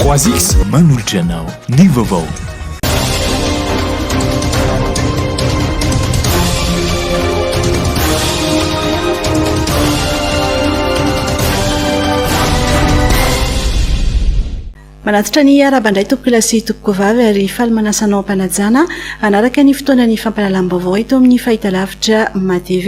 3X manolotra anao ny vaovao. Manatitra ny araba indray tompokila sy tompokovavy ary faly manasanao am-panajana hanaraka ny fotoana ny fampahalalam-baovao eto amin'ny fahitalavitra MATV.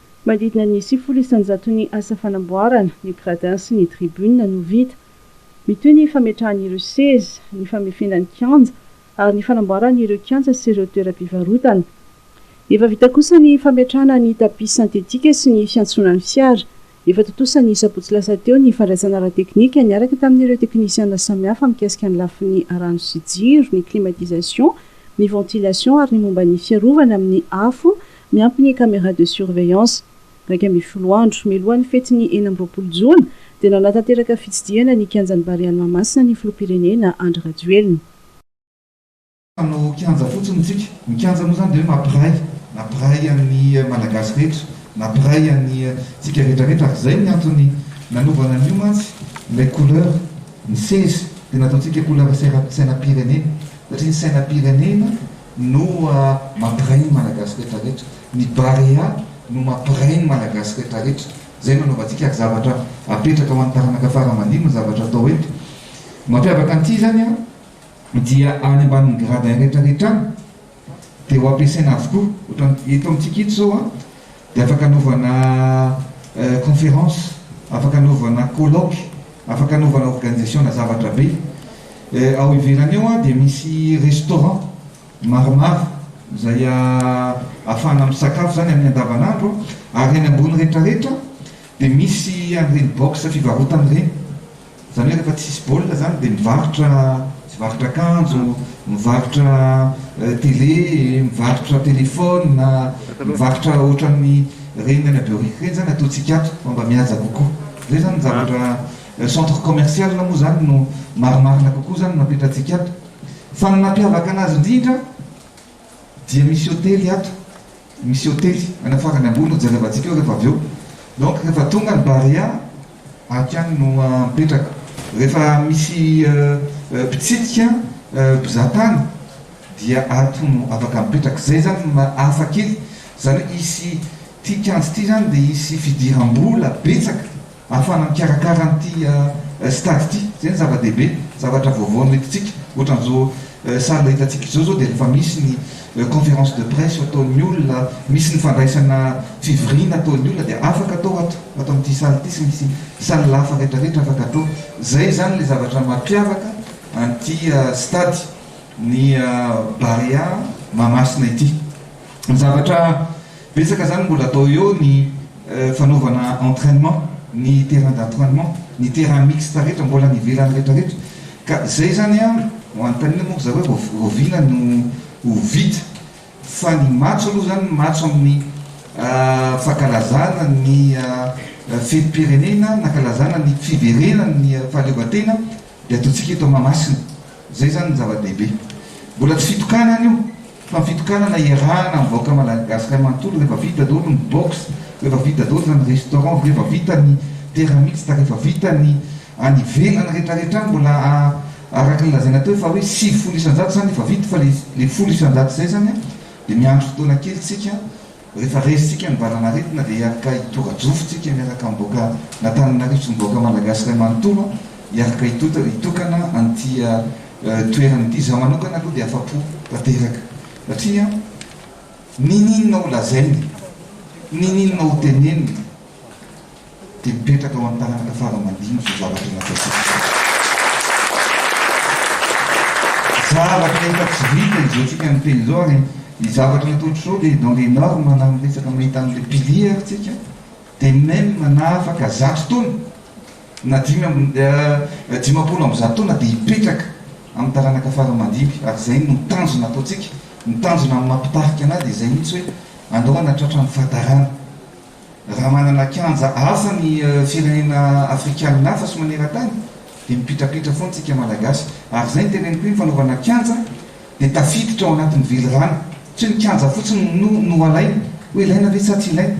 Manodidina ny sivifolo isan-jaton'ny asa fanamboarana ny gradins sy ny tribunes no vita. Mitohy ny fametrahan'ireo seza, ny famefena ny kianja ary ny fanamboarana ireo kianja sy ireo toeram-pivarotana. Efa vita kosa ny fametrahana ny tapis sentetika sy ny fiantsonan'ny fiara. Efa tontosa ny sabotsy lasa teo ny fandraisana ara-teknika niaraka tamin'ireo teknisiana samihafa mikasika ny lafiny rano sy jiro, ny climatisation, ny ventilation ary ny momba ny fiarovana amin'ny afo, Miampy ny caméra de surveillance. Iraika ambin'ny folo andro mialohan'ny fetin'ny enina amby roapolo jona dia nanatanteraka fitsidihana ny kianjan'ny Barea Mahamasina ny filoham-pirenena Andry Rajoelina. Hanao kianja fotsiny isika. Ny kianja moa izany dia hoe mampiray, nampiray an'ny Malagasy rehetra, nampiray antsika rehetra rehetra ary izay ny antony nanaovana an'io mantsy ilay couleur ny seza dia nataontsika couleur sainam-pirenena satria ny sainam-pirenena no mampiray ny Malagasy rehetra rehetra, ny Barea no mampiray ny Malagasy rehetra rehetra, izay no anaovantsika ary zavatra apetraka ho an'ny taranaka fara aman-dimy ny zavatra atao eto. Mampiavaka an'ity izany an, dia any ambanin'ny gradins rehetra rehetra any dia ho ampiasaina avokoa, ohatra eto amintsika eto izao an, Dia afaka anaovana conférence, afaka anaovana colloque, afaka anaovana organisation na zavatra be. Ao ivelany ao dia misy restaurant maromaro izay ahafahana misakafo izany amin'ny andavanandro ary eny ambony retraretra dia misy an'ireny box fivarotana ireny. Zany hoe rehefa tsisy baolina zany dia mivarotra mivarotra akanjo, mivarotra télé, mivarotra téléphone, mivarotra ohatran'ny reny any Behoririka reny zany ataontsika ato fa mba mihaja kokoa. Zay zany ny zavatra centre commercial moa zany no marimarina kokoa zany no apetratsika ato. Fa ny nampiavaka anazy indrindra. Dia misy hotely ato, misy hotely anafarany ambony no jerevantsika eo rehefa avy eo. Donc rehefa tonga ny Barea, aty any no mipetraka. Rehefa misy mpitsidika, mpizaha tany dia ato no afaka mipetraka. Zay zany no hafa kely. Zany hoe hisy, ty kianja ty zany dia hisy fidiram-bola betsaka. Ahafahana mikarakara an'ity stade ity, izay no zava-dehibe, zavatra vaovao no hitantsika, ohatran'izao salle hitantsika izao zao dia efa misy ny conférence de presse ataon'ny olona, misy ny fandraisana fivoriana ataon'ny olona dia afaka atao ato, ato amin'ity salle ity sy misy salle hafa rehetra rehetra afaka atao, izay izany ilay zavatra mampiavaka an'ity stade ny Barea Mahamasina ity. Ny zavatra. Betsaka zany mbola atao eo ny fanaovana entrainement, ny terrain d'entrainement, ny terrain mixte rehetra mbola any ivelany retraretra ka zay zany an manotanina moa ry zareo vao oviana no ho vita fa ny matso aloha zany ny matso amin'ny fankalazana ny fetim-pirenena nankalazana ny fiverenan' ny fahaleovantena dia ataontsika eto Mahamasina, zay zany ny zava-dehibe. Mbola tsy fitokanana io. Fa fitokanana iarahana ny vahoaka Malagasikay manontolo refa vita dolo ny box refa vita dolo zany restaurant refa vita ny terrain mixte refa vita ny any ivelany retraretra any mbola araky ny lazaina teo fa hoe sivifolo isanjato zany efa vita fa le folo isanjato zay zany dia miandry fotoana kely tsika Rehefa resintsika ny valan'aretina dia hiaraka hitora-jofy tsika miaraka amboka n'Antananarivo sy ny vahoaka Malagasy iray manontolo hiaraka hitokana an'ity toerana ity. Izaho manokana aloha dia afa-po tanteraka satria ninininao ho lazainy, ninininao ho tenenina. Dia mipetraka ao amin'ny taranaka fara-mandinika io zavatra nataontsika izao. Zavatra efa tsy vita izao tsika miteny izao ary ny zavatra nataontsika izao dia dans les normes na amin'ny resaka mahita an'ilay pilier ary tsika dia même na afaka zato taona na dimy amby dimampolo amby zato taona dia hipetraka amin'ny taranaka fara-mandinika ary izay no tanjona ataontsika. Ny tanjona amin'ny maha mpitarika an'ahy dia izay mihitsy hoe andao hanatratra ny fahatarana. Raha manana kianja hafa ny firenena afrikanina hafa sy maneran-tany dia mipitrapitra foana isika malagasy. Ary izay no teneniko hoe ny fanaovana kianja dia tafiditra ao anatin'ny velirano. Tsy hoe ny kianja fotsiny no no alaina hoe ilaina ve sa tsy ilaina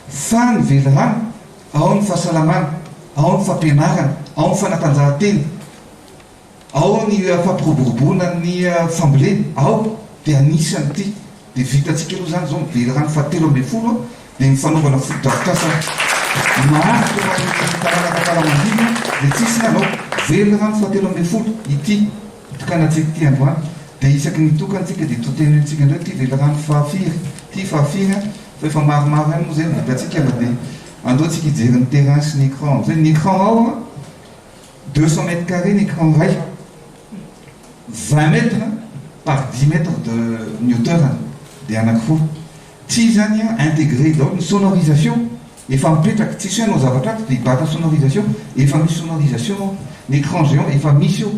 fa ny velirano, ao ny fahasalamana, ao ny fampianarana, ao ny fanatanjahantena. Ao ny fampiroboroboana ny fambolena, ao dia anisany ity dia vitantsika aloha izany izao ny velirano fahatelo ambin'ny folo dia ny fanaovana fotodrafitrasa maharitra ho an'ny taranaka tara-mandimby dia tsisy ny hanao, velirano fahatelo ambin'ny folo ity itokanantsika ity androany dia isaky ny mitokana isika dia totenintsika indray ity velirano fahafiry ity fahafiry an! fa efa maromaro ihany moa izay ny vitantsika na dia aleontsika hijery ny terrain sy ny ecran amin'izay ny ecran ao an! Deux cents mètres carrés ny écran iray, vingt mètres par dix mètres de ny hauteur-ny dia anankiroa. Tsy izany an, integrer daholo ny sonorisation efa mipetraka, tsisy hoe hanao zavatra hafa dia hibata sonorisation, efa misy sonorisation ao, ny écran géant efa misy eo.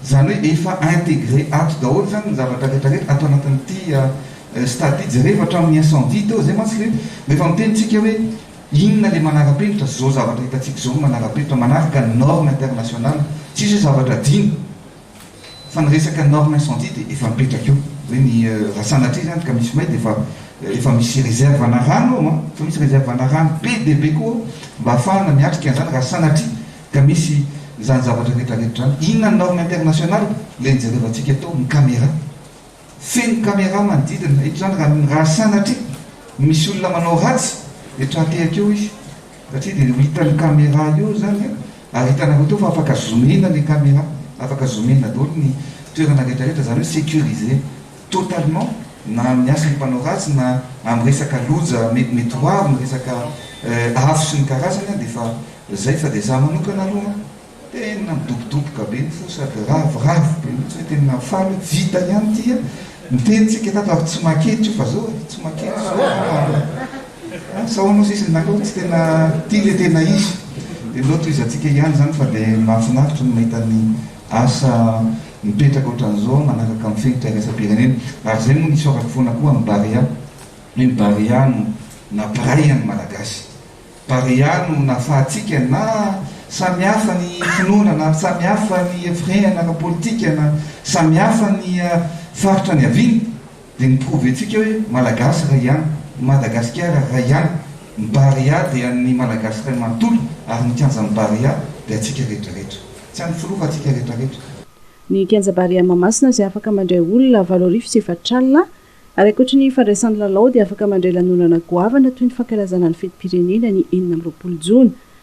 Izany hoe efa integre ato daholo izany ny zavatra rehetra rehetra ato anatin'ity stade ity, jereo hatramin'ny incendie teo izay mantsy ilay hoe mba efa miteny tsika hoe inona ilay manarapenitra, izao zavatra hitantsika izao no manarapenitra manaraka ny norme international, tsisy hoe zavatra adino fa ny resaka norme incendie dia efa mipetraka eo hoe ny raha sanatria izany ka misy may dia efa efa misy reserve ana rano ao an, efa misy reserve ana rano be dia be koa ao mba hahafahana miatrika an'izany raha sanatria Ka misy izany zavatra rehetra rehetra izany. Inona ny norme international? Ilay nijerevantsika tao, ny camera. Feno camera manodidina. Eto izany raha raha sanatria misy olona manao ratsy dia tra-tehaka eo izy. Satria dia ho hitan'ny camera eo izany ary hitanareo teo fa afaka zoom-ina ilay camera. Afaka zoom-ina daholo ny toerana rehetra rehetra. Izany hoe sécurisé totalement na amin'ny asan'ny mpanao ratsy na amin'ny resaka loja mety mety ho avy, ny resaka afo sy ny karazany dia efa izay fa dia za manokana aloha tena midobodoboka be ny fo sady ravoravo be mihitsy hoe tena faly hoe vita ihany ity a, niteny tsika tato ary tsy makety io fa zao e, tsy makety zao fa sao anao sisa ny naka hoe tsy tena ity le tena izy dia mbola tohizantsika ihany izany fa dia mahafinaritra ny mahita ny asa mipetraka ohatran'izao manaraka ny fenitra iraisam-pirenena. Ary izay moa nisy ora foana koa amin'ny Barea, hoe ny Barea no nampiray an'ny Malagasy. Barea no nahafahantsika na samy hafa ny finoana, na samy hafa ny firehana ara-politika, na samy hafa ny faritra niaviana, Dia ny prouve tsika hoe Malagasy iray ihany, i Madagasikara iray ihany, ny Barea dia an'ny Malagasy iray manontolo ary ny kianjan'ny Barea dia antsika rehetra rehetra. Tsy an'ny filoha fa antsika rehetra rehetra. Ny kianja Barea Mahamasina izay afaka mandray olona valo arivo sy efatra alina ary ankoatry ny fandraisany lalao dia afaka mandray lanonana goavana toy ny fankalazana ny fetim-pirenena ny enina amby roapolo jona.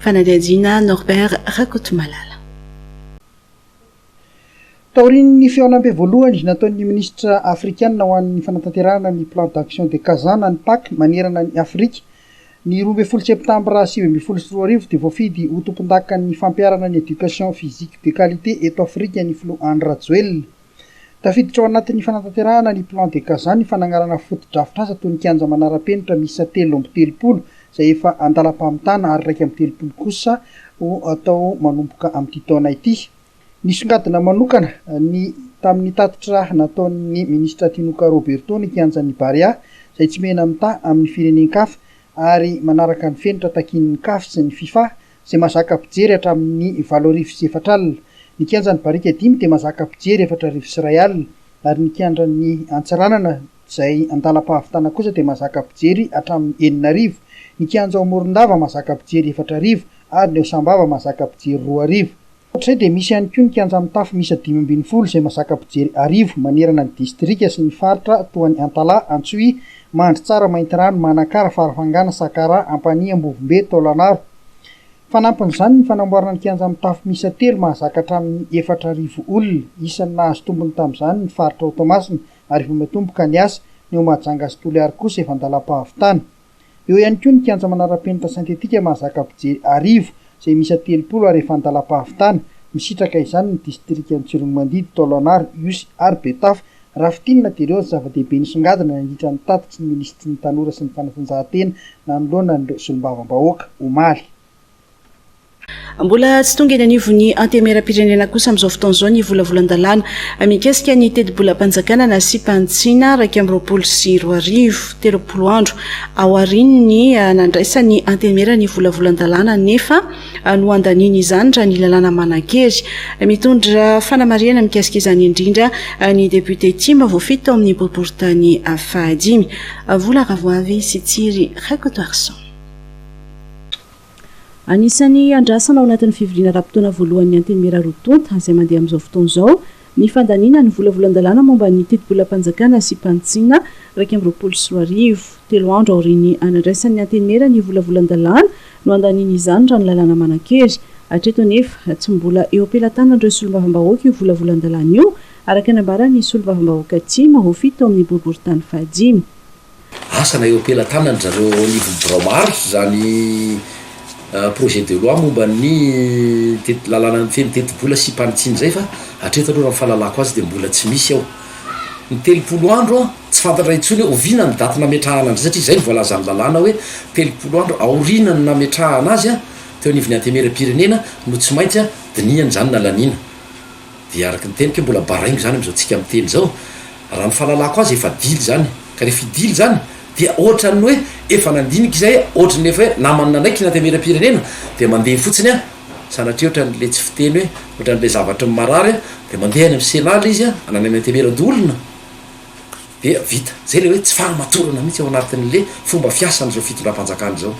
Fanadihadiana, Norbert Rakotomalala. Taorian'ny fihaonambe voalohany nataon'ny minisitra afrikana ho an'ny fanatanterahana ny Plan d'Action de Kazan an'ny Pac manerana an'i Afrika, ny roa ambin'ny folo Septambra sivy ambin'ny folo sy roa arivo dia voafidy ho tompondakan'ny fampiharana ny Education Physique de Qualité eto Afrika ny filoha Andry Rajoelina. Tafiditra ao anatin'ny fanatanterahana ny Plan de Kazan ny fanagnarana fotodrafitrasa toy ny kianja manara-penitra miisa telo amby telopolo izay efa an-dalam-pamitana ary iraika amby telopolo kosa ho atao manomboka amin'ity taona ity. Nisongadina manokana ny tamin'ny tatitra nataon'ny Minisitra Tinoka Roberto ny kianjan'ny Barea izay tsy mena-mitaha amin'ny firenen-kafa ary manaraka ny fenitra takian'ny Caf sy ny Fifa izay mahazaka mpijery hatramin'ny valo arivo sy efatra alina. Ny kianjan'ny Barika dimy dia mahazaka mpijery efatra arivo sy iray alina, ary ny kianjan'ny Antsiranana izay an-dalam-pahavitana kosa dia mahazaka mpijery hatramin'ny enina arivo. Ny kianja ao Morondava mahazaka mpijery efatra arivo, ary ny ao Sambava mahazaka mpijery roa arivo. Ankoatr'izay dia misy ihany koa ny kianja mitafo miisa dimy ambin'ny folo izay mahazaka mpijery arivo manerana ny distrika sy ny faritra toa an'i Antalaha, Antsohihy, Mandritsara, Maintirano, Manakara, Farafangana, Sakaraha, Ampanihy, Ambovombe, Taolagnaro. Fanampin'izany ny fanamboarana ny kianja mitafo miisa telo mahazaka hatramin'ny efatra arivo olona. Isan'ny nahazo tombony tamin'izany ny faritra ao Toamasina ary efa matomboka ny asa. Ny ao Mahajanga sy Toliary kosa efa an-dalam-pahavitana. Eo ihany koa ny kianja manara-penitra sentetika mahazaka mpijery arivo izay miisa telopolo ary efa an-dalam-pahavitana. Misitraka izany ny distrikan'i Tsiroanomandidy, Taolagnaro, Ihosy ary Betafo. Raha fintinina dia ireo ny zava-dehibe nisongadina nandritra ny tatitry ny minisitry ny Tanora sy ny fanatanjahantena nanoloana an'ireo solombavambahoaka, omaly. Mbola tsy tonga eny anivon'ny Antemeram-pirenena kosa amin'izao fotoana izao ny volavolan-dalàna mikasika ny tetibolam-panjakana nasiam-panitsiana iraika amby roapolo sy roa arivo. Telopolo andro aorian'ny nandraisan'ny Antemera ny volavolan-dalàna anefa no andaniany izany raha ny lalàna manan-kery. Mitondra fanamarihana mikasika izany indrindra ny depiote Tim voafidy tao amin'ny boriborintany fahadimy. Vola Ravoavy sy Tsiry Rakotoarison. Anisan'ny andrasana ao anatin'ny fivoriana ara-potoana voalohan'ny Antenimiera roa tonta izay mandeha amin'izao fotoana izao ny fandaniana ny volavolan-dalàna momba ny tetibolam-panjakana sy mpanitsiana iraika amby roapolo sy roa arivo. Telo andro aorian'ny anandraisan'ny Antenimiera ny volavolan-dalàna no handaniany izany raha ny lalàna manan-kery. Hatreto anefa, tsy mbola eo am-pelatanan'ireo solombavambahoaka io volavolan-dalàna io, araka ny nambaran'ny solombavambahoaka Tim ho fito ao amin'ny boriborintany fahadimy. asa na eo am-pelatanan'dry zareo eo anivon'ny birao maro izany projet de loi momba ny teti- lalàna mifehy ny tetibola sy mpanitsiana izay fa hatreto aloha raha ny fahalalako azy dia mbola tsy misy ao. Ny telopolo andro an, tsy fantatra intsony hoe oviana ny daty nametrahana an'izay satria izay no voalazan'ny lalàna hoe telopolo andro aorianan'ny nametrahana azy an, teo anivon'ny Antenimierampirenena no tsy maintsy an, dinihana izany na laniana. Dia araka ny teniko hoe mbola baraingo izany amin'izao tsika miteny izao. Raha ny fahalalako azy efa dily izany. Ka rehefa i dily izany dia ohatran'ny hoe efa nandinika izay, ohatran'ny efa hoe namany nanaiky ny antenimieram-pirenena dia mandeha fotsiny an! Sanatria ohatran'ilay tsy fiteny hoe ohatran'ilay zavatry ny marary an! Dia mandeha any amin'ny Sénat ilay izy an! Any amin'ny antenimieran-doholona dia vita. Izay ilay hoe tsy fahamatorana mihitsy ao anatin'ilay fomba fiasan'izao fitondram-panjakana izao.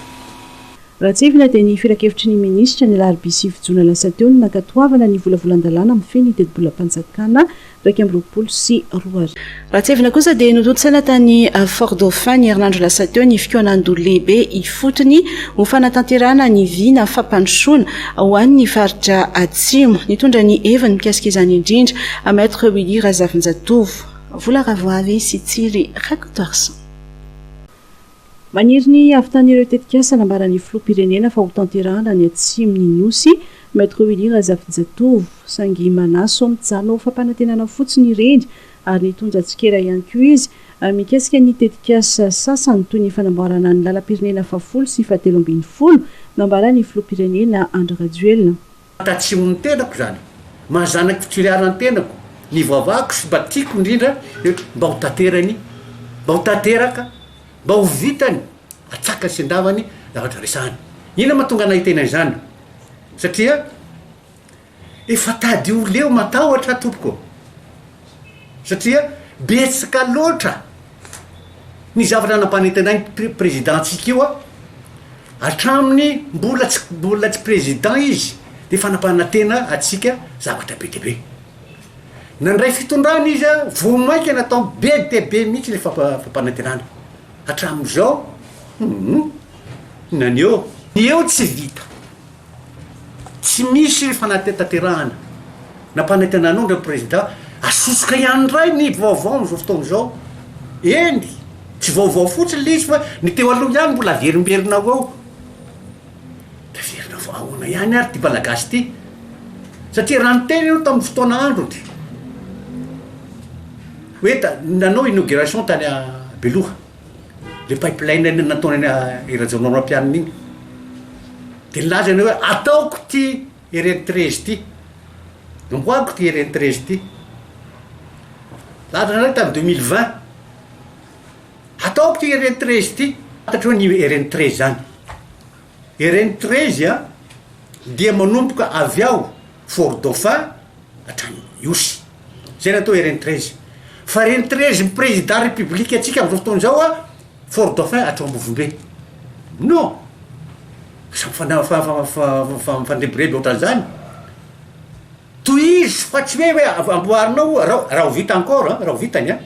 Raha tsipina dia ny filankevitry ny minisitra ny alarobia sivy jona lasa teo ny nankatoavana ny volavolan-dalàna mifehy ny tetibolam-panjakana iraika amby roapolo sy roa arivo. Raha tsipina kosa dia notontosaina tany Fort Dauphin ny herinandro lasa teo ny fikaonan-doha lehibe ifotony ho fanatanterahana ny vina fampandrosoana ho an'ny faritra Atsimo. Nitondra ny heviny mikasika izany indrindra Maître Willy Razafinjatovo. Vola Ravoavy sy Tsiry Rakotoarison. Maniry ny havitan'ny ireo tetikasa nambaran'ny Filoham-pirenena fa hotanterahana ny atsimon'ny Nosy, Maître Willy Razafijatovo. Saingy manasao mijanona ho fampanantenana fotsiny ireny ary nitondra tsikera ihany koa izy mikasika ny tetikasa sasany toy ny fanamboarana ny lalam-pirenena fahafolo sy fahatelo ambin'ny folo nambaran'ny Filoham-pirenena Andry Rajoelina. Tatsimo ny tenako izany maha zanak'i Fitsiriara ny tenako, ny vavahako sy mba tiako indrindra dia hoe mba ho tanterany, mba ho tanteraka, mba ho vitany, atsakany sy andavany zavatra resahana. Inona ma tonga nahitena izany? Satria efa tady ho leo matahotra tompoko. satria betsaka loatra ny zavatra nampanentanay ny prezidantsika io an, hatramin'ny mbola tsy mbola tsy prezidan izy dia efa nampanantena antsika zavatra be dia be. Nandray fitondrana izy an, vao mainka natao be dia be mihitsy ilay fampanantenana, hatramin'izao, hum naneho. Eo tsy vita. Tsy misy fanatanterahana na panantenan'ondry ny prezida, asosoka ihany indray ny vaovao amin'izao fotoana izao. Eny, tsy vaovao fotsiny ilay izy fa ny teo aloha ihany mbola averimberina ao ao. Taverina fa ahoana ihany ary ity Malagasy ity? Satria raha niteny ianao tamin'ny fotoana androny hoe nanao inauguration tany Beloha. le pipeline iny nataony i Rajaonarimampianina iny de nilaza ny hoe ataoko ity RN treize ity amboariko ity RN treize ity laza nareo tamin'ny deux mille vingt ataoko ity RN treize ity fantatro hoe ny RN treize zany RN treize a dia manomboka avy ao Fort Dauphin hatrany Ihosy. Zay ny atao hoe Rentrezy. Fa Rentrezin'ny Président République-ntsika amin'izao fotoana izao an, Fort Dauphin hatreo Ambovombe. Non! Aza mifana- fa- fa- fa- fa- mifandrebireby ohatran'izany. Tohizo fa tsy hoe hoe av- amboarinao o, ra- raha ho vita encore an, raha ho vita ny an,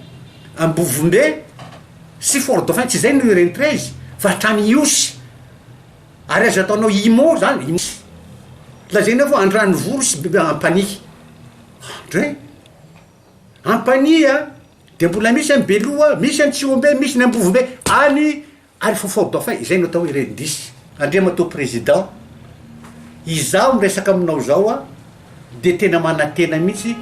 Ambovombe sy Fort Dauphin, tsy izay no Rentrezy fa hatrany Ihosy. Ary aza ataonao imo zany iny sy lazainao fa andranovory sy biby ampanihy andre ampanihy a de mbola misy any beloha misy any tsihombe misy ny ambovombe any arifofao bafay izay no atao hoe ren dish andriamatoa président izaho miresaka aminao izao a de tena manantena mihitsy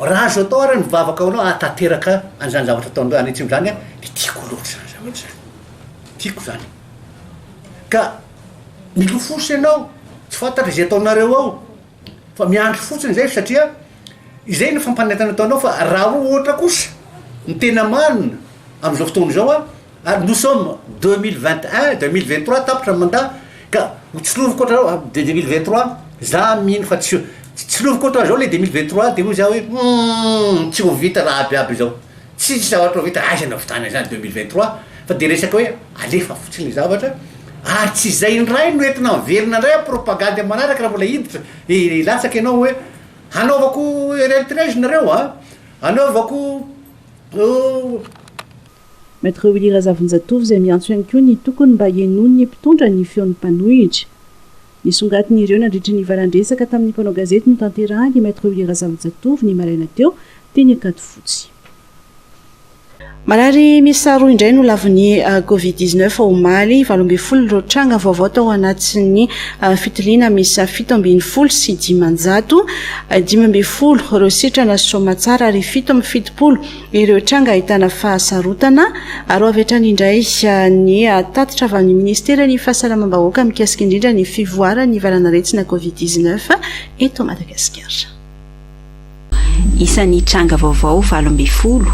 raha azo atao ary ny vavaka anao ahatanteraka an'izany zavatra ataonareo any atsimo zany a de tiako loatra zany zavatra zany tiako zany Ka milofosa ianao, tsy fantatra izay ataonareo ao, fa miandry fotsiny izay satria izay no fampanentana ataonao fa raha ohatra kosa ny tena marina amin'izao fotoana izao an, ary nous sommes deux mille vingt et un, deux mille vingt trois tapitra ny mandat ka ho tsiloviko ohatran'izao an, deux mille vingt trois za mino fa tsy tsiloviko ohatran'izao le deux mille vingt trois de hoy za hoe humm tsy ho vita raha aby aby izao. Tsisy zavatra ho vita aiza na votaina izany deux mille vingt trois fa dia resaka hoe alefa fotsiny ilay zavatra ary tsy izay indray no entina miverina indray amin'ny propagandy manaraka raha mbola hiditra hilatsaka ianao hoe hanaovako eritrea izy nareo an! hanaovako Maître Willy Razavonjatovo izay miantso ihany koa ny tokony mba henoin'ny mpitondra ny feon'ny mpanohitra. Nisongatin'ireo nandritra ny valan-dresaka tamin'ny mpanao gazety notanterahin'i Maître Willy Razafijatovo ny maraina teo, teny Ankadifotsy. Marary miisa roa indray no lavon'ny Covid dix neuf omaly. Valo ambin'ny folo ireo tranga vaovao tao anatin'ny fitiliana miisa fito ambin'ny folo sy dimanjato. Dimy ambin'ny folo ireo sitrana soamatsara ary fito amby fitopolo Ireo tranga ahitana fahasarotana. Aro avy hatrany indray ny tatitra avy amin'ny Minisiteran'ny Fahasalamam-bahoaka mikasika indrindra ny fivoaran'ny valan'aretina Covid dix neuf eto Madagasikara. Isan'ny tranga vaovao valo ambin'ny folo,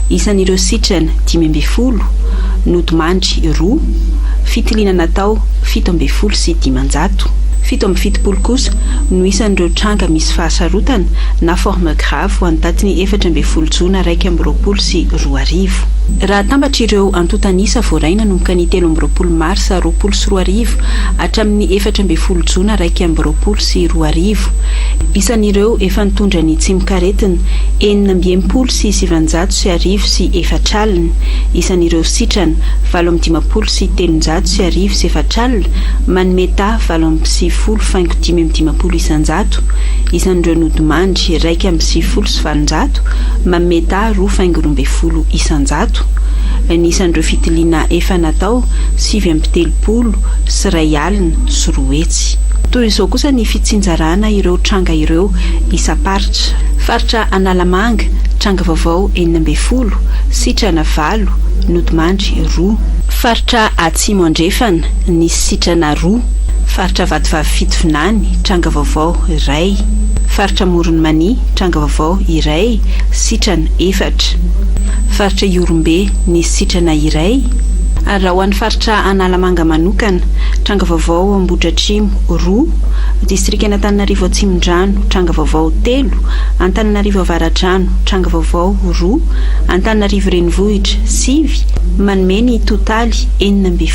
isan'ireo sitrana dimy ambin'ny folo, nodimandry roa, fitiliana natao fito ambin'ny folo sy dimanjato. Fito amby fitopolo kosa no isan'ireo tranga misy fahasarotana na formes graves. Sahirafo ho an'ny daty ny efatra ambin'ny folo jona iraika amby roapolo sy roa arivo. Raha atambatra ireo antontan'isa voaray nanomboka ny telo amby roapolo marsa roapolo sy roa arivo hatramin'ny efatra ambin'ny folo jona iraika amby roapolo sy roa arivo, isan'ireo efa nitondra ny tsimok'aretina, enina amby enimpolo sy sivinjato sy arivo sy efatra alina, isan'ireo sitrana, valo amby dimampolo sy telonjato sy arivo sy efatra alina, manome taha, valo amby sivifolo faingo dimy amby dimampolo isanjato. isan'ireo nodimandry iraika amby sivifolo sy valonjato manome dahy roa faingo roa ambin'ny folo isan-jato ny isan'ireo fitiliana efa natao sivy amby telopolo sy iray alina sy roa hetsy. Toy izao kosa ny fitsinjarana ireo tranga ireo isam-paritra. Faritra Analamanga, tranga vaovao enina ambin'ny folo, sitrana valo, nodimandry roa. Faritra Atsimo Andrefana, nisy sitrana roa. Faritra Vatovavy Fitovinany, tranga vaovao, iray. Faritra Amoron'i Mania, tranga vaovao, iray, sitrana, efatra. Faritra Ihorombe, nisy sitrana iray. Ary raha ho an'ny Faritra Analamanga manokana, tranga vaovao, Ambohidratrimo, roa. Distrikan'Antananarivo Atsimondrano, tranga vaovao, telo. Antananarivo Avaradrano, tranga vaovao, roa. Antananarivo Renivohitra, sivy. Manome ny totaly enina ambin'ny folo.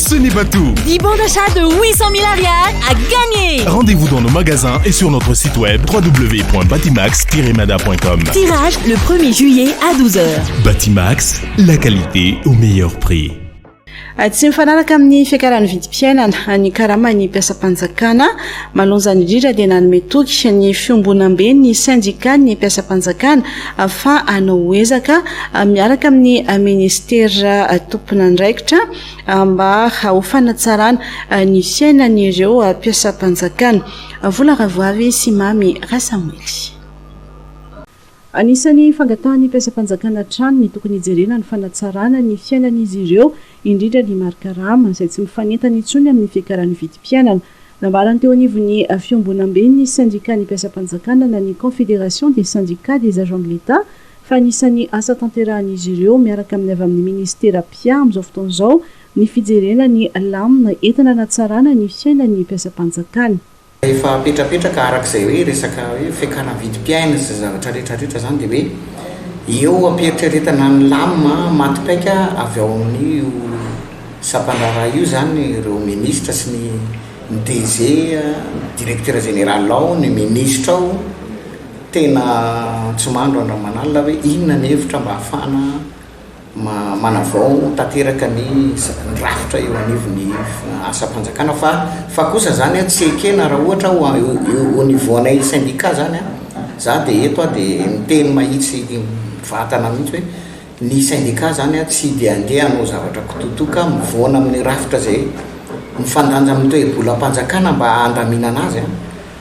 Ce n'est pas tout. 10 bons d'achat de 800 000 ariary à gagner. Rendez-vous dans nos magasins et sur notre site web www.batimax-mada.com. Tirage le 1er juillet à 12h. Batimax, la qualité au meilleur prix. Ah, tsy mifanaraka amin'ny fiakaran'ny vidim-piainana ah, ny karaman'ny mpiasam-panjakana malonjany indrindra dia nanome toky ny fiombonambe ny sendika ny mpiasam-panjakana ah, fa anao hoezaka miaraka amin'ny ministera tomponandraikitra mba ho fanatsarana ny fiainan'ireo mpiasam-panjakana. Vola Ravoavy sy Mamy Rasamboly. Anisan'ny fangatahan'ny mpiasam-panjakana hatrany ny tokony hijerena ny fanatsarana ny fiainan'izy ireo, indrindra ny mari-karama izay tsy mifanentana intsony amin'ny fiakaran'ny vidim-piainana. Nambarany teo anivon'ny fiombonamben'ny sendikan'ny mpiasam-panjakana na ny Confédération des Syndicats des Agents de l'Etat fa anisan'ny asa tanterahan'izy ireo miaraka amin'ny avy amin'ny Ministera mpia amin'izao fotoana izao ny fijerena ny lamina entina hanatsarana ny fiainan'ny mpiasam-panjakana. Efa apetrapetraka araka izay hoe resaka hoe fiakana vidim-piaina sy izay zavatra rehetra rehetra izany dia hoe eo am-pieritreretana ny lamina maty paika avy ao amin'io Sampan-draharaha io izany ireo minisitra sy ny ny DG, ny directeur général ao, ny minisitra ao tena antsimandro andramanalina hoe inona ny hevitra mba hahafahana manavao tanteraka ny ny rafitra eo anivon'ny asam-panjakana fa fa kosa izany tsy ekena raha ohatra ho an au niveau anay syndicat izany an, za dia eto aho dia miteny mahitsy vatana mihitsy hoe. Ny sendika izany tsy dia andeha hanao zavatra kitoatoa ka mivoana amin'ny rafitra izay mifandanja amin'ny toe-bolam-panjakana mba handaminana azy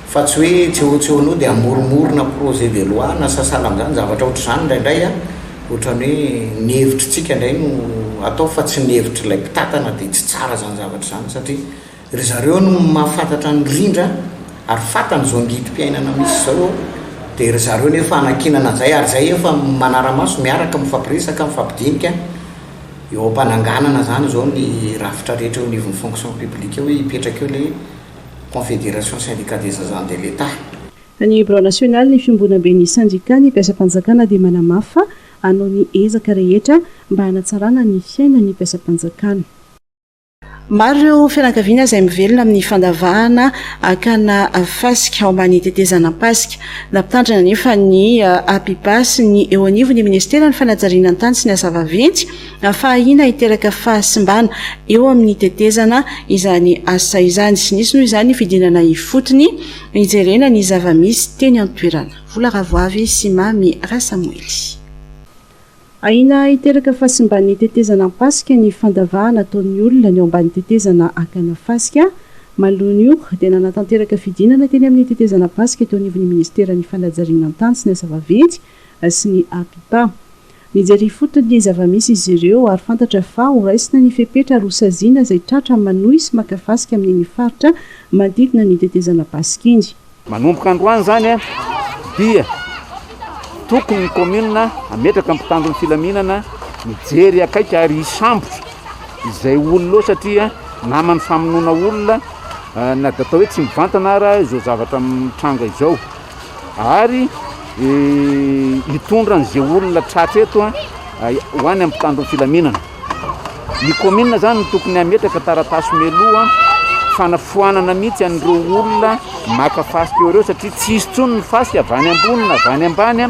fa tsy hoe tseotseonao dia hamoromorona projet de loi na sasalan'izany, zavatra ohatr'izany indraindray ohatran'ny hoe ny hevitr'tsika indray no atao fa tsy ny hevitr'ilay mpitantana dia tsy tsara izany zavatra izany satria. Ry zareo no mahafantatra ny rindra ary fantany izao angidim-piainana misy izao ao dia ry zareo nefa hanankinana izay ary izay efa manara-maso miaraka mifampiresaka, mifampidinika eo am-pananganana izany izao ny rafitra rehetra eo anivon'ny fonction publique eo hoe hipetraka eo ilay Confédération Syndicats des Agents de l'Etat. Ny Birao Nasionalin'ny Fiombonamben'ny Sendikà ny Mpiasam-panjakana dia manamafy fa hanao ny ezaka rehetra mba hanatsarana ny fiainan'ny mpiasam-panjakana. Maro ireo fianakaviana izay mivelona amin'ny fandavahana hakana fasika ao ambany tetezana Pasika. Nampitandrina anefa ny APIPA sy ny eo anivon'ny Ministeran'ny Fanajariana ny Tany sy ny Asa Vaventy fa ahiana hiteraka fahasimbana eo amin'ny tetezana izany asa izany. Tsy nisy noho izany ny fidinana ifotony hijerena ny zava-misy teny an-toerana. Vola Ravoavy sy Mamy Rasamoily. Ahiana hiteraka fahasimban'ny tetezana Ampasika ny fandavahana ataon'ny olona ny eo ambany tetezana Ankanafasika. Maloan'io dia nanatanteraka fidinana teny amin'ny tetezana Ampasika teo anivon'ny minisiteran'ny fanajarianan-tany sy ny asa vaventy sy ny APIPA. Nijery ifotony ny zava-misy izy ireo ary fantatra fa horaisina ny fepetra ary hosaziana izay tratra manohy sy maka fasika amin'iny faritra manodidina ny tetezana Ampasika iny. Manomboka androany izany dia tokony ny kaominina hametraka ny mpitandron'ny filaminana mijery akaiky ary hisambotra izay olona eo satria naman'ny famonoana olona na dia atao hoe tsy mivantana ara izao zavatra mitranga izao ary hitondra an'izay olona tratra eto ho any amin'ny mpitandron'ny filaminana. Ny kaominina izany no tokony hametraka taratasy mialoha fanafoanana mihitsy an'ireo olona maka fasika eo ireo satria tsy hisy intsony ny fasika avy any ambony na avy any ambany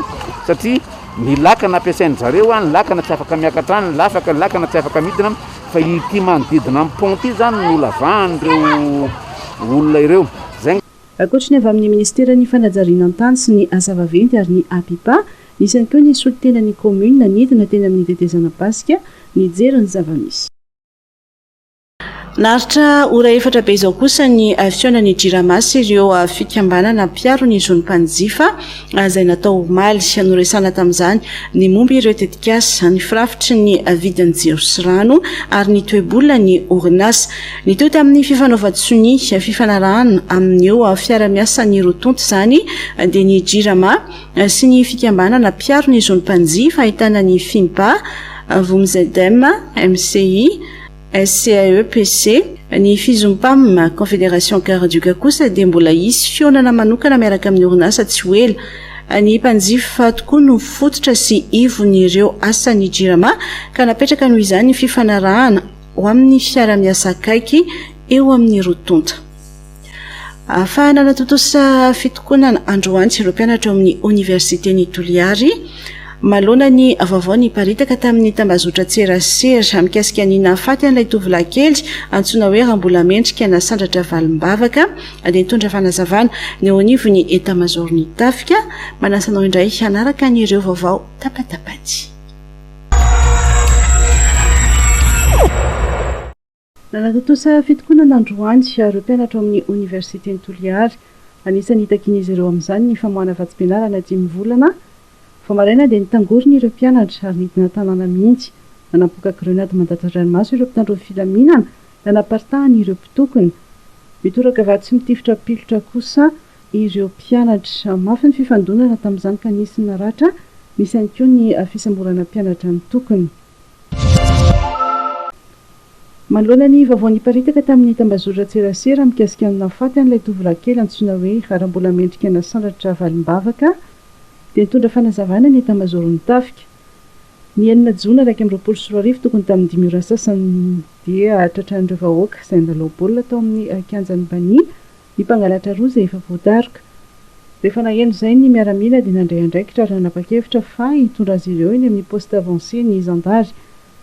satria ny lakana ampiasain-dry zareo, ny lakana tsy afaka miakatra any, ny lakana tsy afaka midina fa ity manodidina ny pont ity izany no lavahany ireo olona ireo. Ankoatry ny avy amin'ny Minisiteran'ny fanajariana ny tany sy ny asa vaventy ary ny APIPA, nisy ihany koa ny solontenan'ny kaominina nidina teny amin'ny tetezana-pasika nijery ny zava-misy. Naharitra ora efatra be izao kosa ny fihaonan'ny Jirama sy ireo fikambanana mpiaro ny zon'ny mpanjifa izay natao omaly. Noresahana tamin'izany ny momba ireo tetikasa, ny firafitry ny vidin'ny jiro sy rano ary ny toe-bolan'ny orinasa. Mitohy tamin'ny fifanaovan-tsonia, fifanarahana, amin'io fiara-miasan'ny roa tonta izany dia ny Jirama sy ny fikambanana mpiaro ny zon'ny mpanjifa ahitana ny Fimpa, Vomzedem, MCI, SCAEPC, ny Fizompam, Confédération Car Duka kosa dia mbola hisy fihaonana manokana miaraka amin'ny orinasa tsy ho ela. Ny mpanjifa tokoa no fototra sy ivon'ireo asan'ny Jirama ka napetraka noho izany ny fifanarahana ho amin'ny fiara-miasa akaiky eo amin'ny roa tonta. Ahafahana hanatontosa fitokonana androany ireo mpianatra ao amin'ny Oniversiten'i Toliary, manoloana ny vaovao niparitaka tamin'ny tambazotran-tserasera mikasika ny nahafaty an'ilay tovolahy kely antsoina hoe Rambolamendrika Nasandratra Valimbavaka, dia nitondra fanazavana ny eo anivon'ny Etamazaoron'ny Tafika. Manasa anao indray hanaraka an'ireo vaovao tapatapany. Nanatontosa fitokonana androany ireo mpianatra ao amin'ny Oniversiten'i Toliary. Anisan'ny hitakian'izy ireo amin'izany ny famoahana vatsim-pianarana dimy volana. Vao maraina dia nitangorona ireo mpianatra ary nidina an-tanàna mihitsy. Nanampoka grenady mandatsy an-dranomaso ireo mpitandro ny filaminana. Nanaparitahan' ireo mpitokona. Mitoraka vary tsy mitifitra pilotra kosa ireo mpianatra. Mafy ny fifandonana tamin' izany ka nisy ny naratra, nisy ihany koa ny fisamborana mpianatra nitokona. Manoloana ny vaovao niparitaka tamin' ny tambazotran-tserasera mikasika ny nahafaty an' ilay tovolahy kely antsoina hoe Rara mbola mendrika nasandratra valim-bavaka dia nitondra fanazavana ny etamazaoron' ny tafika. Ny enina jona iraika amby roapolo sy roa arivo tokony tamin' ny dimy ora sasany, dia tratran'ireo vahoaka izay nilalao baolina tao amin'ny kianjan'i Bani ny mpangalatra roa izay efa voadaroka. Rehefa naheno izay ny miaramila dia nandray andraikitra ary nanapa-kevitra fa hitondra azy ireo eny amin'ny poste avancé ny zandary.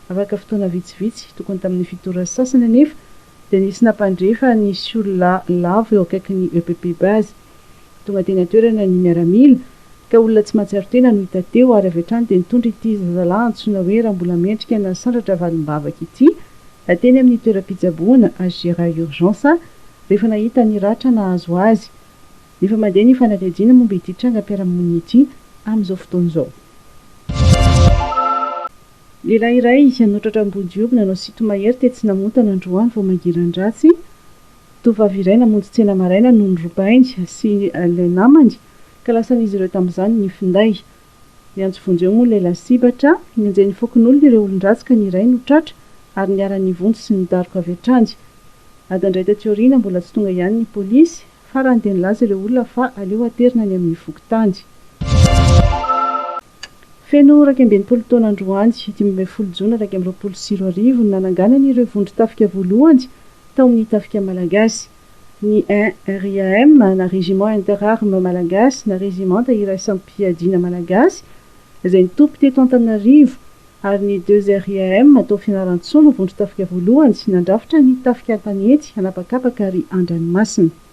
Afaka fotoana vitsivitsy, tokony tamin'ny fito ora sy sasany anefa, dia nisy nampandre fa nisy olona lavo eo akaikin'ny EPP base. Tonga teny an-toerana ny miaramila ka olona tsy mahatsiaro tena no hita teo ary avy hatrany dia nitondra ity zazalahy antsoina hoe Rambolamendrika nasandratra valim-bavaka ity teny amin'ny toeram-pitsaboana HGRA Urgence rehefa nahita ny ratra nahazo azy. Efa mandeha ny fanadihadiana momba ity trangam-piarahamonina ity amin'izao fotoana izao. Lehilahy iray nanotratra am-bonjioby nanao sinto-mahery tetsy Namontana androany vao mangiran-dratsy Tovovavy iray namonjy tsena maraina no norobainy sy ilay namany ka lasan'izy ireo tamin'izany ny finday. Niantso vonjy eo moa ilay lasibatra, nenjehin'ny fokonolona ireo olon-dratsy ka ny iray no tratra ary niharan'ny vonjy sy ny daroka avy hatrany. Ady indray taty aoriana mbola tsy tonga ihany ny polisy, farany dia nilaza ireo olona fa aleo aterina any amin'ny fokontany. Feno iraika ambin'ny folo taona androany, dimy ambin'ny folo jona iraika amby roapolo sy roa arivo, no nananganany ireo vondron-tafika voalohany tao amin'ny tafika malagasy. Ny RIAM, na Régiment Interarmes Malagasy, na Rezimanta Iraisam-piadiana Malagasy, izay nitoby teto Antananarivo, ary ny deux RIAM tao Fianarantsoa no vondron-tafika voalohany nandrafitra ny tafika an-tanety, an'habakabaka ary an-dranomasina.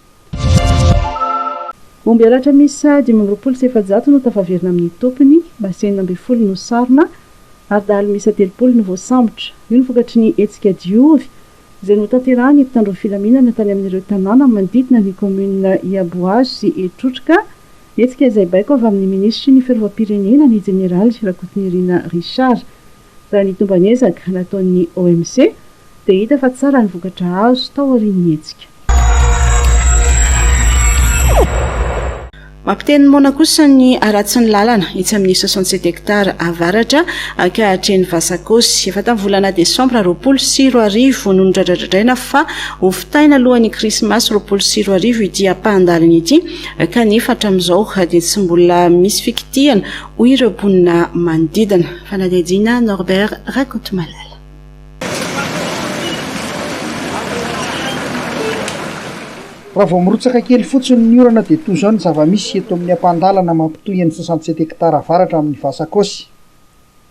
Omby halatra miisa dimy amby roapolo sy efajato no tafaverina amin'ny tompony, basy enina ambin'ny folo no sarona ary dahalo miisa telopolo no voasambotra. Io no vokatry ny hetsika Diovy izay notanterahin'ny mpitandro ny filaminana tany amin'ireo tanàna manodidina ny kaominina Iabohazo sy Etrotroka, hetsika izay baiko avy amin'ny minisitry ny Fiarovam-pirenena, ny jeneraly Rakotonirina Richard. Raha ny tomban'ezaka nataon'ny OMC dia hita fa tsara ny vokatra azo tao aorian'ny hetsika. Mampiteny moana kosa ny haratsin'ny lalana etsy amin'ny soixante sept hectares avaratra ankahatrehin'i Vasakozy. Efa tamin'ny volana desambra roapolo sy roa arivo no nodradradradraina fa hovitaina alohan'ny krismasy roapolo sy roa arivo ity ampahan-dalana ity kanefa hatramin'izao dia tsy mbola misy fikitihana hoy ireo mponina manodidina. Fanadihadiana, Norbert Rakotomalala. Raha vao mirotsaka kely fotsiny ny orana dia toa izao ny zava-misy eto amin'ny ampahan-dalana mampitohy an'i Soixante-sept hectares avaratra amin'ny Vasakossy.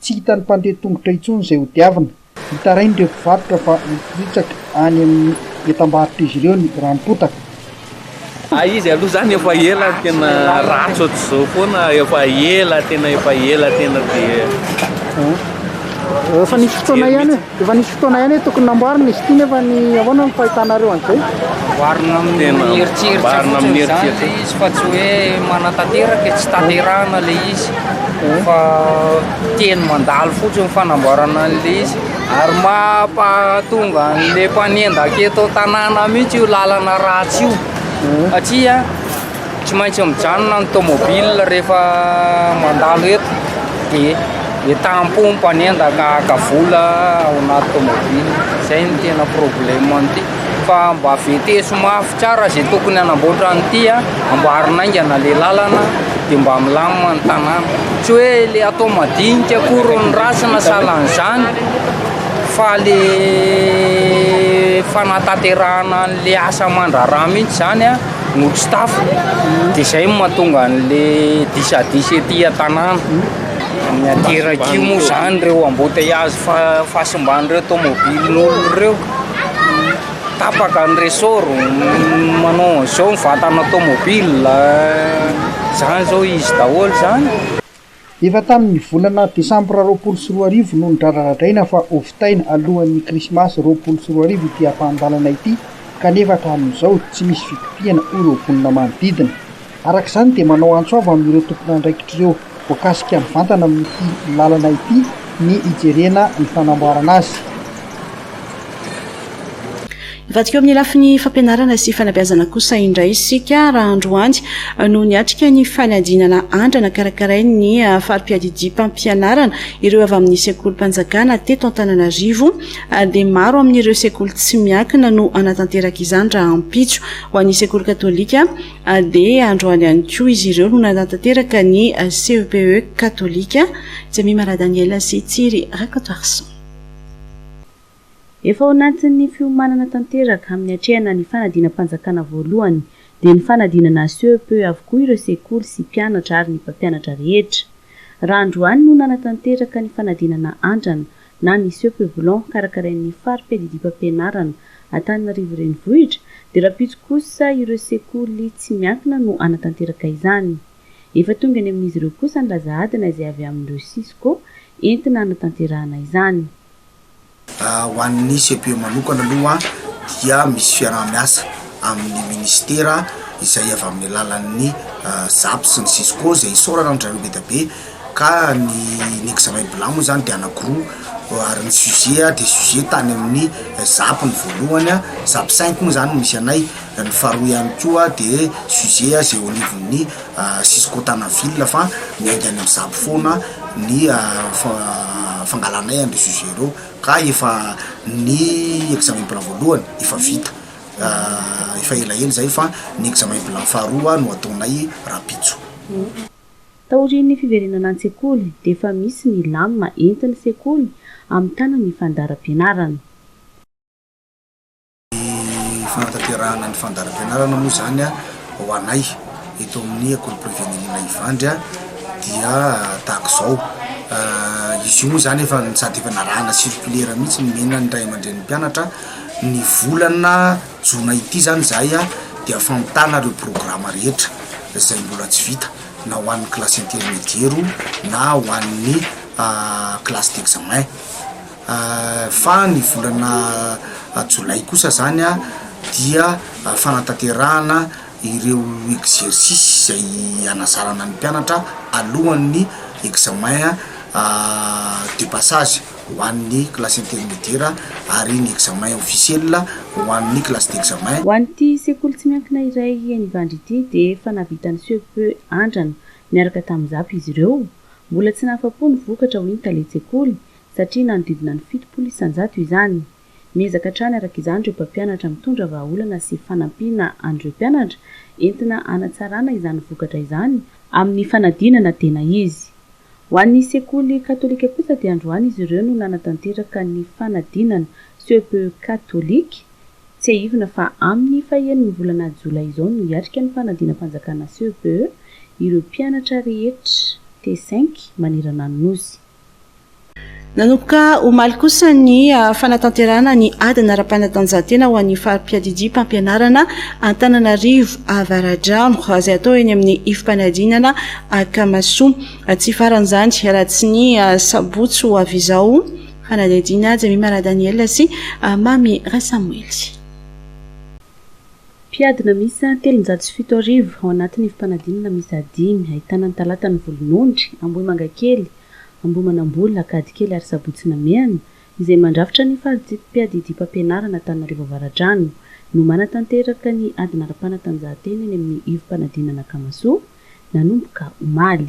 Tsy hitan'ny mpandeha tongotra intsony izay hodiavina. Nitarain'ireo mpivarotra fa hiporitsaka any amin'ny entam-barotr'izy ireo ny rano potaka. Hay izy aloha izany efa ela tena ratsy ohatr'izao foana, efa ela tena efa ela tena dia. Efa nisy fotoana ihany hoe. Efa nisy fotoana ihany hoe tokony namboarina izy ity nefa ny ahoana ny fahitanareo an'izay? Amboarina amin'ny eritreritra fotsiny izany ilay izy fa tsy hoe manatanteraka, tsy tanterahina ilay izy fa teny mandalo fotsiny ny fanamboarana an'ilay izy ary mampahatonga an'ilay mpanendaka eto an-tanàna mihitsy io lalana ratsy io satria Tsy maintsy mijanona ny tomobile rehefa mandalo eto dia etam-po ny mpanendaka haka vola ao anaty tomobile. Izay no tena problème an'ity. Fa mba veteso mafy tsara izay tokony hanamboatra an'ity, amboary naingana ilay lalana dia mba milamina ny tanàna. Tsy hoe ilay atao madinika akory ny ratsiny sahalan'izany fa ilay fanatanterahana an'ilay asa aman-draharaha mihitsy izany. Nosy tafo de izay no mahatonga an'le disadisa ety an-tanàna. Ny aterak'io moa izany ireo embouteillages fa- fahasimban'ireo tômôbilin'olona ireo. Tapaka ny ressort, manao an'izao ny vatana tômôbila, izany izao izy daholo izany. Efa tamin'ny volana desambra roapolo sy roa arivo no nodradradradraina fa hovitaina alohan'ny krismasy roapolo sy roa arivo ity ampahan-dalana ity kanefa hatramin'izao tsy misy fikopihana hoy ireo mponina manodidina. Araka izany dia manao antso avo amin'ireo tompon'andraikitr'ireo voakasika mivantana amin'ity lalana ity ny hijerena ny fanamboarana azy. Mivadika eo amin'ny lafiny fampianarana sy fanabeazana kosa indray isika raha androany no niatrika ny fanadinana andrana karakarain'ny fari-piadidiam-pampianarana ireo avy amin'ny sekolim-panjakana teto Antananarivo dia maro amin'ireo sekoly tsy miankina no hanatanteraka izany rahampitso. Ho an'ny sekoly katolika dia androany ihany koa izy ireo no nanatanteraka ny CEPE katolika. Jemima Radaniel sy Tsiry Rakotoarison. Efa ao anatin'ny fiomanana tanteraka amin'ny hatrehana ny fanadinam-panjakana voalohany dia ny fanadinana CEP avokoa ireo sekoly sy mpianatra ary ny mpampianatra rehetra. Raha androany no nanatanteraka ny fanadinana andrana na ny CEP Blanc karakarain'ny fari-piadidiam-pampianarana Antananarivo Renivohitra dia rahampitso kosa ireo sekoly tsy miankina no hanatanteraka izany. Efa tonga any amin'izy ireo kosa ny laza adina izay avy amin'ireo cisco entina hanatanterahana izany. Ho an'ny CEPE manokana aloha dia misy fiaraha-miasa amin'ny ministera izay avy amin'ny alalan'ny zap sy ny cisco izay isaorana an-dry zareo be dia be ka ny ny examen BLA moa izany dia anakiroa ary ny sujet dia sujet tany amin'ny zap ny voalohany a, zap cinq moa izany no misy anay, ny faharoa ihany koa dia sujet izay ao anivon'ny. Cisco Tana ville fa miainga any amin'ny zab foana ny fangalanay an'ireo sujet ireo ka efa ny examen plan voalohany efa vita efa elaela izay fa ny examen plan faharoa no ataonay rahampitso. Taorian'ny fiverenana an-tsekoly dia efa misy ny lam entin'ny sekoly hamitana ny fandaharam-pianarana. Ny fanatanterahana ny fandaharam-pianarana moa izany ho anay eto amin'ny ankorom-pirenena Ivandry dia tahaka izao, izy io moa izany efa sady efa narahana circulaire mihitsy nomena ny ray aman-drenin'ny mpianatra, ny volana jona ity izany izahay dia famitana ireo programa rehetra izay mbola tsy vita na ho an'ny classe intermediaire na ho an'ny classe d'examen. Fa ny volana jolay kosa zany dia fanatanterahana ireo exercices izay hanazarana ny mpianatra alohan'ny examen de passage ho an'ny classe intermediaire ary ny examen officiel ho an'ny classe d'examen. Ho an'ity sekoly tsy miankina iray eny Ivandry ity dia efa nahavita ny CEPE andrana niaraka tamin'ny zap izy ireo. Mbola tsy nahafa-po ny vokatra hoy ny talen-tsekoly satria nanodidina ny fitopolo isan-jato izany. Miezaka hatrany araka izany ireo mpampianatra mitondra vahaolana sy fanampiana an'ireo mpianatra, entina hanatsarana izany vokatra izany, amin'ny fanadinana tena izy. Ho an'ny sekoly katolika kosa dia androany izy ireo no nanatanteraka ny fanadinana Ce peut catholique. Tsiahivina fa amin'ny fahen'ny volana jolay izao no hiatrika ny fanadinam-panjakana Ce peut ireo mpianatra rehetra T-cinq manerana ny Nosy. Nanomboka omaly kosa ny fanatanterahana ny adina ara-panatanjahantena ho an'ny fari-piadidiam-pampianarana Antananarivo Avaradrano, izay atao eny amin'ny ifi-panadinana Akamasoa. Tsy hifaran'izany raha tsy ny sabotsy ho avy izao, fanadihadiana Jemimara Daniel sy Mamy Rasamoely. Mpiadina miisa telonjato sy fito arivo ao anatin'ny fifanadinana miisa dimy ahitana ny Talatan'ny Volonondry, Ambohimangakely, Ambohimanambola, Ankadikely ary Sabotsy Namehana izay mandrafitra ny fari-tsipi-piadidiam-pampianarana Antananarivo Avaradrano no manatanteraka ny adina ara-panatanjahantena eny amin'ny ivom-panadinana Akamasoa nanomboka omaly.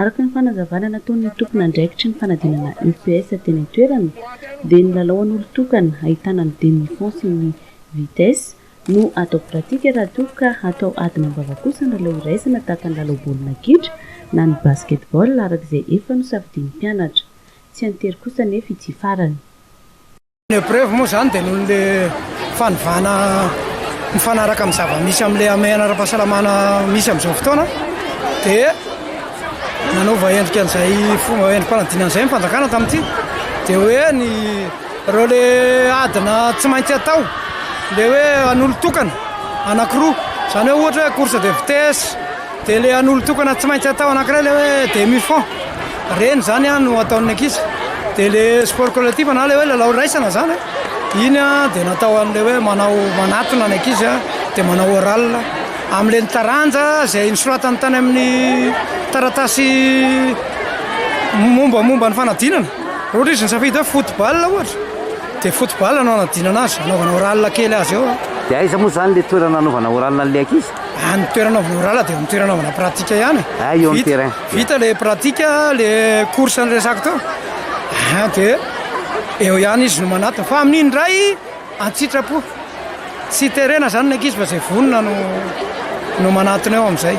Araka ny fanazavana nataon'ny tompon'andraikitry ny fanadinana UPS teny an-toerana dia ny lalao an'olon-tokana ahitana ny demi-fond sy ny vitesse no atao pratika raha toa ka atao adina am-bava kosa ny lalao iraisana tahaka ny lalao baolina kitra na ny basketball araka izay efa nosafidian'ny mpianatra. Tsy an-tery kosa anefa ity farany. Ny epreuve moa izany dia noho ilay fanovana mifanaraka amin'ny zava-misy amin'ilay hamehana ara-pahasalamana misy amin'izao fotoana dia nanova endrika an'izay fomba endri-panadinana izay ny fanjakana tamin'ity dia hoe ny ireo le adina tsy maintsy atao le hoe an'olon-tokana anankiroa izany hoe ohatra hoe course de vitesse Dia ilay an'olon-tokana tsy maintsy atao anankiray ilay hoe demi fond, ireny izany an no ataon'ny ankizy. Dia ilay sport collectif na ilay hoe lalao iraisana izany an, iny an dia natao an'ilay hoe manao manatona ny ankizy an, dia manao oral amin'ilay ny taranja izay nosoratany tany amin'ny taratasy mombamomba ny fanadinana. Raha ohatra izy nisafidy hoe football ohatra, dia football no anadinana azy, anaovana oral kely azy eo. Dia aiza moa izany ilay toerana anaovana oral an'ilay ankizy? Ah, ny toerana anaovana orala dia ny toerana anaovana pratika ihany e. Ah, eo amin'ny terrain. Vita ilay pratika, ilay course niresako teo. Ah, dia eo ihany izy no manatona. Fa amin'iny indray, an-tsitrapo. Tsy terena izany ny ankizy fa izay vonona no, no manatona eo amin'izay.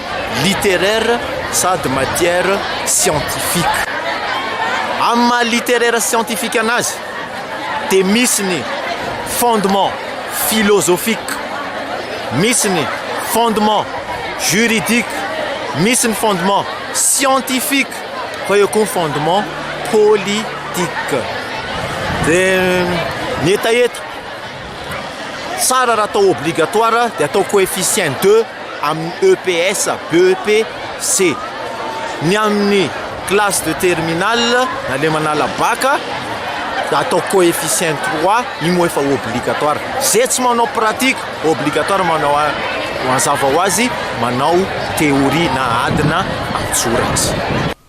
littéraire sady matière scientifique. Amin'ny maha littéraire scientifique anazy dia misy ny fondement philosophique, misy ny fondement juridique, misy ny fondement scientifique fa eo koa ny fondement politique. Dia ny hetaheta. Tsara raha atao obligatoire dia atao coefficient deux amin'ny EPS, BEP, C. Ny amin'ny classe de terminale na le manala baka da atao coefficient trois io moa efa obligatoire. Ze tsy manao pratique obligatoire manao mazava ho azy manao théorie na adina an-tsoratra.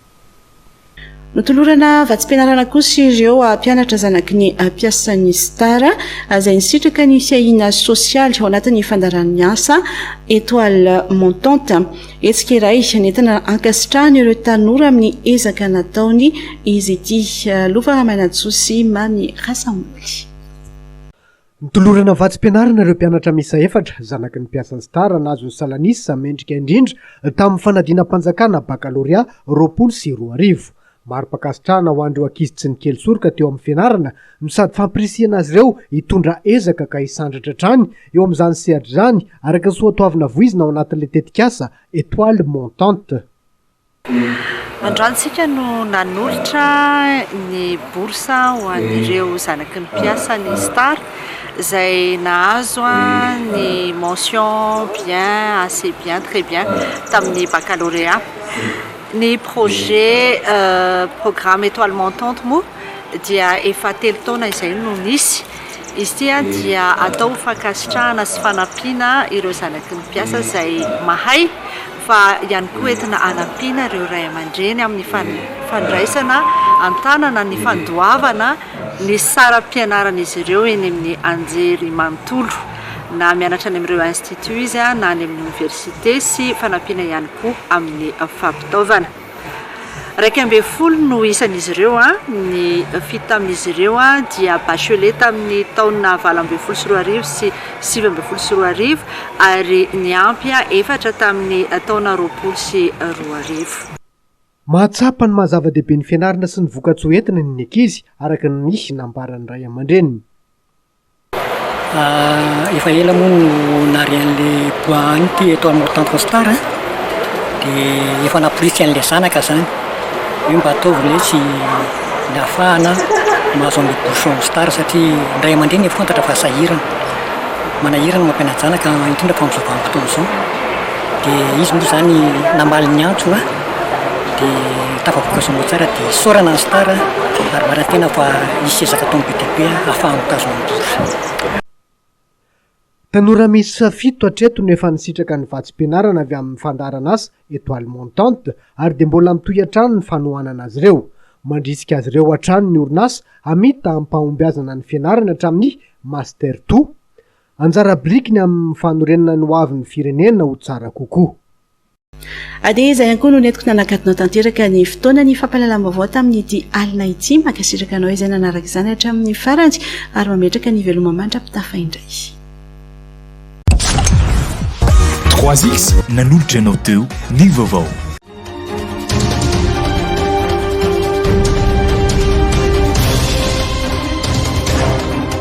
Notolorana vatsim-pianarana kosa ireo mpianatra zanaky ny mpiasan'ny Star, izay nisitraka ny fiahiana sosialy ao anatin'ny fandaharan'ny asa Etoile Montante. Hetsika iray nentina hankasitrahana ireo tanora amin'ny ezaka nataony izy ity. Lova Ramanantsoa sy Mamy Rasamoly. Notolorana vatsim-pianarana ireo mpianatra miisa efatra, zanaky ny mpiasan'ny Star, nahazo ny salan'isa mendrika indrindra tamin'ny fanadinam-panjakana bakalorea roapolo sy roa arivo. Mari-pankasitrahana ho an'ireo ankizy tsy nikely soroka teo amin'ny fianarana no sady fampirisihana azy ireo hitondra ezaka ka hisandratra hatrany eo amin'izany sehatra izany, araka ny soatoavina voizina ao anatin'ilay tetikasa Etoile montante. Androantsika no nanolotra ny bourse ho an'ireo zanaky ny mpiasa ny Star izay nahazo ny mention bien, assez bien, très bien tamin'ny baccalauréat. Ny projet programme Etoile montante moa dia efa telo taona izay no nisy. Izy ity dia atao ho fankasitrahana sy fanampiana ireo zanaky ny mpiasa izay mahay. fa ihany koa entina hanampiana ireo ray aman-dreny amin'ny fandraisana an-tanana ny fandoavana ny saram-pianaran'izy ireo eny amin'ny anjerimanontolo, na mianatra any amin'ireo instituts izy na any amin'ny oniversite sy fanampiana ihany koa amin'ny fampitaovana. Iraika ambin'ny folo no isan'izy ireo, ny fito tamin'izy ireo dia bachelais tamin'ny taona valo ambin'ny folo sy roa arivo sy sivy ambin'ny folo sy roa arivo ary ny ampy efatra tamin'ny taona roapolo sy roa arivo. Mahatsapa ny maha zava-dehibe ny fianarana sy ny vokatsoa entina ny ankizy, araka ny nambaran'ny ray aman-dreniny. Efa ela moa no nary an'le bois any ity eto amin'ny Tanjona Star a, dia efa namporisika an'le zanaka zany hoe mba ataovy le tsy nahafahana mahazo an'le bouchon Star satria ray aman-dreny efa fantatra fa sahirana, manahirana ny mampiana-janaka indrindra fa amin'izao vanim-potoana izao, dia izy moa zany namaly ny antso a. Dia tafavoaka soa aman-tsara dia isaorana ny Star ary marin-tena fa hisy ezaka ataon'ny BDB hahafahany mitazona ny bourse. Tanora miisa fito hatreto no efa nisitraka ny vatsim-pianarana avy amin'ny fandaharan'asa Etoile Montante ary dia mbola mitohy hatrany ny fanohanana azy ireo. Mandrisika azy ireo hatrany ny orinasa hamita amim-pahombiazana ny fianarany hatramin'ny Master to Anjara birikiny amin'ny fanorenana ny hoavin'ny firenena ho tsara kokoa. Ady izay ihany koa no nentiko nanakatona tanteraka ny fotoanan'ny fampahalalam-baovao tamin'ity alina ity. Mankasitraka anao izay nanaraka izany hatramin'ny farany ary mametraka ny veloma mandra-pitafa indray. Croisix nanolotra anao teo ny vaovao.